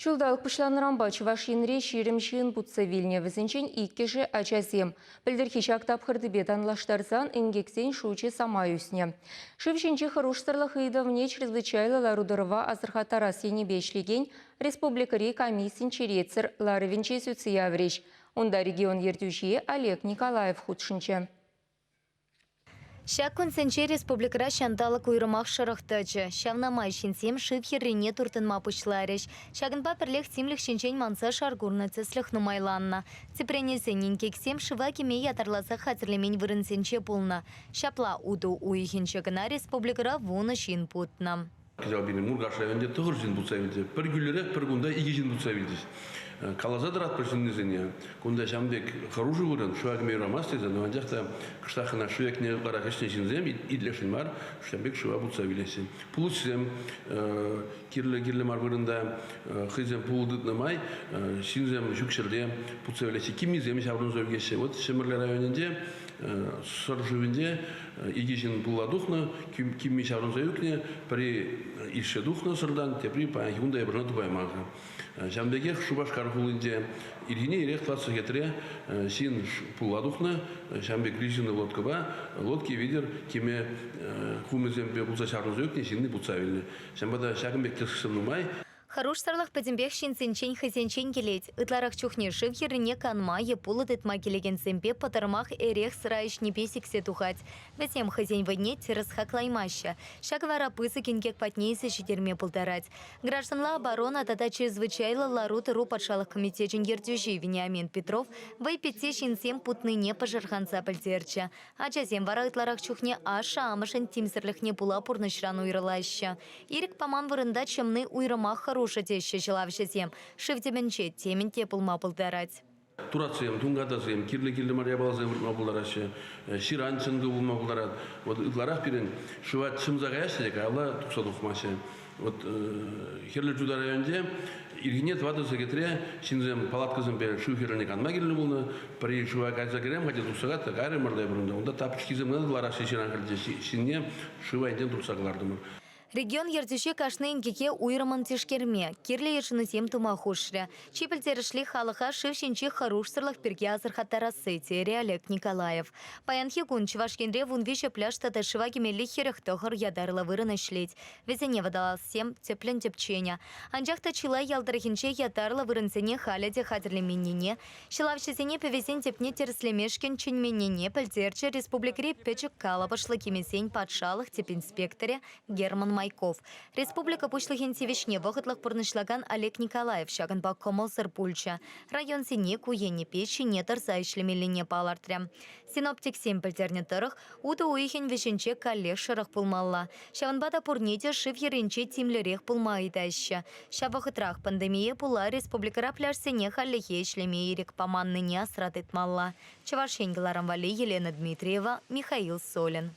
Ҫулталӑк пуҫланнӑранпа Чӑваш Енре ҫирӗм ҫын путса вилнӗ. Вӗсенчен иккӗшӗ ачасем. Пӗлтӗрхи ҫак тапхӑртипе танлаштарсан инкексен шучӗ самай ӳснӗ. Шыв ҫинчи хӑрушсӑрлӑх ыйтӑвне чрезвычайлӑ лару-тӑрӑва асӑрхаттарас енӗпе ӗҫлекен республикӑри комиссин черетсӗр ларӑвӗнче сӳтсе яврӗҫ. Унта регион ертӳҫи Олег Николаев хутшӑнчӗ. Ҫак кунсенче республикӑра ҫанталӑк уйрӑмах шӑрӑх тӑчӗ. Ҫавна май ҫынсем шыв хӗррине туртӑнма пуҫларӗҫ. Ҫакӑнпа пӗрлех тимлӗх ҫинчен манса шар курнӑ тӗслӗх нумайланнӑ. Тӗпренесен инкексем шыва кӗме ятарласа хатӗрлемен вырӑнсенче пулнӑ. Ҫапла утӑ уйӑхӗнче кӑна республикӑра вунӑ ҫын путнӑ. Кӑҫал пирӗн Муркаш районӗнче тӑхӑр ҫын путса вилчӗ. Пӗр кӳлӗрех пӗр кунта икӗ ҫын путса вилчӗҫ. Э, каласа тӑратпӑр ҫыннисене, кунта ҫam пек хӑрушӑ вырӑн, шыва кӗме юрамасть тесен, анчах та кӑштах кӑна шыв екне вара ӗҫнӗ ҫынсем итлесшӗн мар, ҫам пек шыва путса вилеҫҫӗ. Пулӑҫсем э, кирлӗ-кирлӗ мар вырӑнта э, хӑйсем пулӑ тытнӑ май ҫынсем ҫук ҫӗрте путса вилеҫҫӗ, киммисем ҫаврӑнса ӳкеҫҫӗ. Вот Ҫӗмӗрле районӗнче Сӑр шывӗнче икӗ ҫын пула тухнӑ, кимми ҫаврӑнса ӳкнӗ, пӗри ишсе тухнӑ сӑртан, тепри паянхи кун та япӑшана тупайман-ха. Ҫавӑн пекех Шупашкар хулинче ирхине ирех класс сехетре ҫын пула тухнӑ. Ҫавӑн пек рифинӑ лодкӑпа лодки витӗр кӗме хумӗсемпе пулса ҫаврӑнса ӳкнӗ ҫынни путса вилнӗ. Ҫавӑнпа та ҫакӑн пек тӗслӗх нумай. Хӑрушсӑрлӑх пӗтӗмпех ҫынсенчен хӑйсенчен килет. Ытларах чухне шыв хӗррине канма е пулӑ тытма килекенсемпе пӑтӑрмах эрех-сӑра ӗҫнипе сиксе тухать. Вӗсем хӑйсен вӑйне тӗрӗс хаклаймаҫҫӗ. Ҫакӑ вара пысӑк инкек патне илсе ҫитерме пултарать. Гражданла оборона тата чрезвычайлӑ лару-тӑру патшалӑх комитечӗн ертӳҫи Вениамин Петров вӑй питти ҫынсем путнине пӑшӑрханса пӗлтерчӗ. Ачасем вара ытларах чухне ашшӗ-амӑшӗн тимсӗрлӗхне пула пурнӑҫран уйрӑлаҫҫӗ. Ирӗк паман вырӑнта чӑмни уйрӑмах хӑрушӑ теҫҫӗ ҫӑлавҫӑсем. Шыв тӗмӗнче темӗн те пулма пултарать. Туратсем, тункатасем, кирлӗ-кирлӗ мар япаласем выртма пултараҫҫӗ. Ҫыран чӑнкӑ пулма пултарать. Вот ытларах пирӗн шыва чӑмса каяҫҫӗ те каялла тухса тухмаҫҫӗ. Вот Хӗрлӗ Чутай районӗнче ирхине тӑватӑ сехетре ҫынсем палаткӑсемпе шыв хӗрне канма килнӗ пулнӑ. Пӗри шыва кайса кӗрем, хотя тухса кайрӑм кайрӑмӑр та пурӑнта. Унта тапочкисем кӑна лараҫҫӗ ҫыран кӗртеҫҫӗ. Ҫынне шыва енчен туртса кӑлартӑмӑр. Регион ертӳҫи кашни инкеке уйрӑммӑн тишкерме, кирлӗ йышӑнусем тума хушрӗ. Чи пӗлтерӗшли халӑха шыв ҫинчи хӑрушсӑрлӑх пирки асӑрхаттарасси, терӗ Олег Николаев. Паянхи кун Чӑваш Енре вунвиҫӗ пляж тата шыва кӗмелли хӗрӗх тӑхӑр ятарлӑ вырӑн ӗҫлет. Вӗсене водолазсем тӗплӗн тӗпченӗ. Анчах та чылай ял тӑрӑхӗнче ятарлӑ вырӑнсене халӗ те хатӗрлеменнине, ҫӑлавҫӑсене пӗвесен тӗпне тӗрӗслемешкӗн чӗнменнине пӗлтерчӗ республикӑри пӗчӗк калӑпӑшлӑ кӗмесен патшалӑх тӗп инспекторӗ Герман Майков. Республика Пуҫлӑхӗн тивӗҫне вӑхӑтлӑх пурнӑҫлакан Олег Николаев ҫакӑнпа кӑмӑлсӑр пулчӗ. Районсене ку енӗпе ҫине тӑрса ӗҫлемеллине палӑртрӗ. Синоптиксем пӗлтернӗ тӑрӑх, утӑ уйӑхӗн вӗҫӗнче каллех шӑрӑх пулмалла. Ҫавӑнпа та пурне те шыв йӗрӗнче тимлӗрех пулма ыйтаҫҫӗ. Ҫав вӑхӑтрах пандемие пула республикӑра пляжсене хальлӗхе ӗҫлеме ирӗк паманнине асра тытмалла. Чӑваш Ен кӑларӑм валли Елена Дмитриева, Михаил Солин.